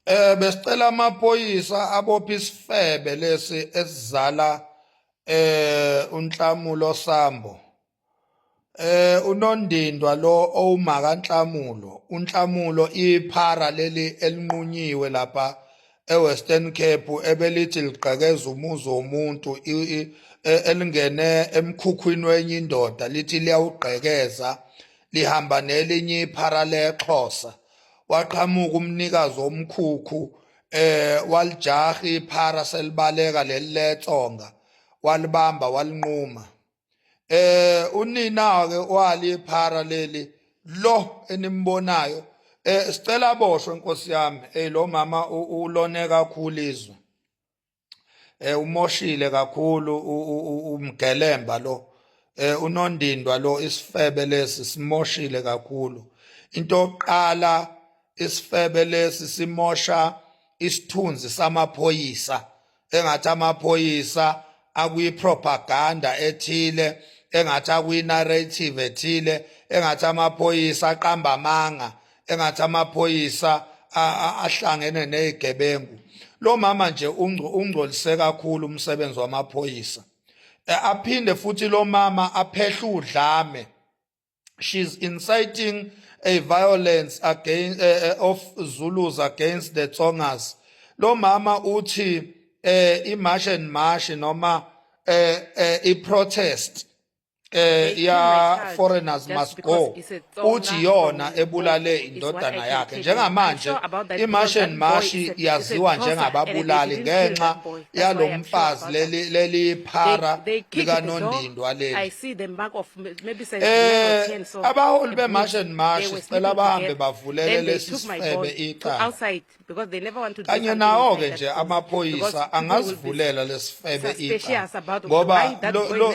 Eh besicela amaphoyisa abopha isifebe lesi esizala eh unhlamulo sambo. Eh unondindwa lo owumaka nhlamulo, unhlamulo iphara leli elinqunyiwe lapha eWestern Cape ebelithi ligqekeza umuzi womuntu e, elingene emkhukhwini wenye indoda lithi liyawugqekeza lihamba nelinye iphara lexhosa waqhamuka umnikazi omkhukhu eh walijaha iphara selibaleka leliletsonga walibamba walinquma eh unina ke wali iphara leli lo enimbonayo eh sicela boshwe inkosi yami eh lo mama ulone kakhulu izwe eh umoshile kakhulu umgelemba lo eh unondindwa lo isifebe lesi simoshile kakhulu into oqala isifebe lesi simosha isithunzi samaphoyisa engathi amaphoyisa akuyipropaganda ethile engathi akuyinarrative ethile engathi amaphoyisa aqamba amanga engathi amaphoyisa ahlangene nezigebengu lo mama nje ungcolise kakhulu umsebenzi wamaphoyisa e, aphinde futhi lo mama aphehle udlame she's inciting a violence against uh, e, e, of Zulus against the Tsongas lo mama uthi eh imarch and march noma eh, eh iprotest eh ya foreigners must go uthi yona ebulale indodana yakhe njengamanje imartian mashi yaziwa njengababulali ngenxa yalomfazi leli leli phara likanondindwa leli eh abaholi bemartian mashi cela bahambe bavulele lesi sifebe iqala because they never want to kanye nawo ke nje amaphoyisa angazivulela lesifebe iqa ngoba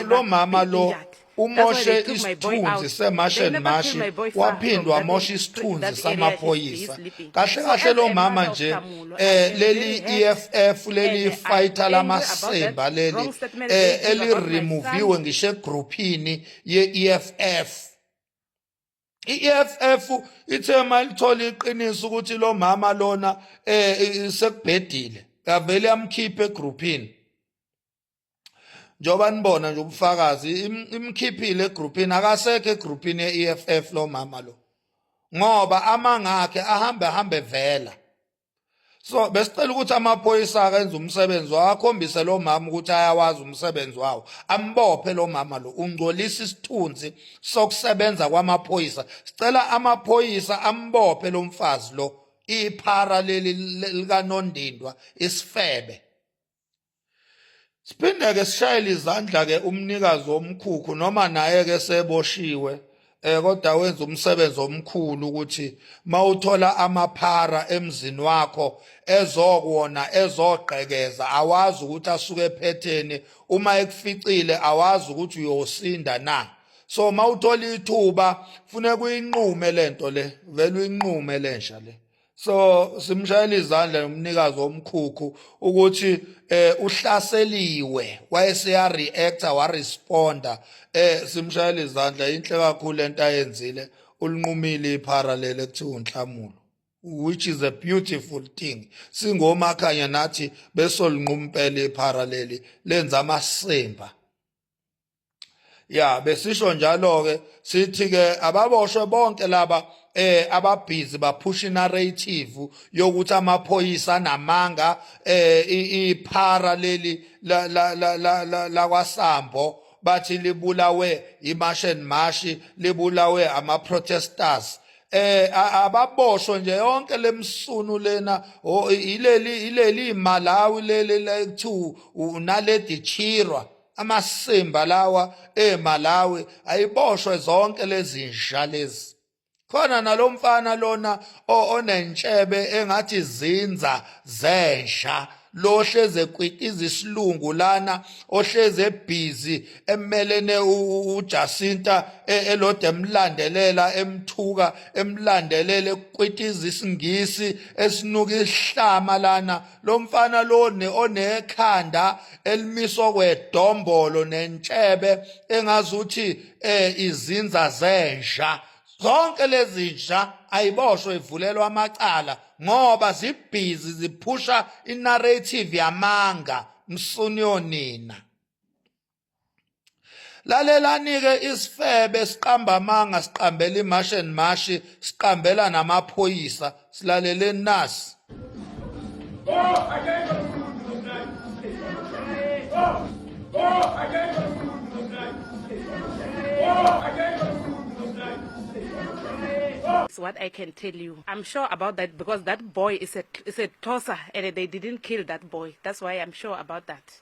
lo mama lo umoshe isithunzi semasheni mashi waphinde wamosha isithunzi samaphoyisa kahle kahle lo mama nje eh leli EFF leli fighter lamasemba leli eh eli removiwe ngishe groupini ye EFF i-EFF ithe malithola iqiniso ukuthi lo mama lona eh sekubhedile yavele yamkhipha egroupini njengoba nibona nje ubufakazi imkhiphile egroupini akasekho egroupini ye-EFF lo mama lo ngoba amanga akhe ahambe ahambe vela so besicela ukuthi amaphoyisa akenze umsebenzi wawo akhombise lo mama ukuthi ayawazi umsebenzi wawo ambophe lo mama lo ungcolisa isithunzi sokusebenza kwamaphoyisa sicela amaphoyisa ambophe lo mfazi lo iphara leli likanondindwa isifebe Siphinde-ke sishayele izandla-ke umnikazi womkhukhu noma naye-ke seboshiwe eh kodwa wenza umsebenzi omkhulu ukuthi mawuthola amaphara emzini wakho ezokuwona ezogqekeza awazi ukuthi asuke ephetheni uma ekuficile awazi ukuthi uyosinda na so mawuthola ithuba funeka uyinqume lento le vele uyinqume lensha le so simshayela izandla nomnikazi womkhukhu ukuthi eh uhlaseliwe wayeseya reactor wa responda eh simshayela izandla inhle kakhulu lento ayenzile ulinqumile iphara lele kuthiwa unhlamulo which is a beautiful thing singomakhanya nathi besolinqumpela iphara leli lenza amasimba ya besisho njalo ke sithi ke ababoshwe bonke laba eh ababhizi baphusha narrative yokuthi amaphoyisa namanga eh iphara leli la la la la la kwasambo bathi libulawe imash and mash libulawe ama protesters eh ababoshwe nje yonke lemsunu lena ileli ileli Malawi leli la kuthiwa unaledi chirwa amasimba lawa eMalawi ayiboshwe zonke lezi nsha lezi khona nalomfana lona onentshebe engathi zinza zensha lohleze kwitiza isilungu lana ohleze ebhizi emelene uJacinta e, elode emlandelela emthuka emlandelela kwitiza isingisi esinuka isihlama lana lo mfana loni onekhanda elimiswa kwedombolo nentshebe engazuthi eh izinza zenja zonke lezi nja ayiboshwe ivulelwa amacala ngoba zibhizi ziphusha inarrative yamanga msuni yonina lalelani-ke isifebe siqamba amanga siqambela imashi and mashi siqambela namaphoyisa silaleleni nasi That's what I can tell you. I'm sure about that because that boy is a is a tosser and they didn't kill that boy. That's why I'm sure about that.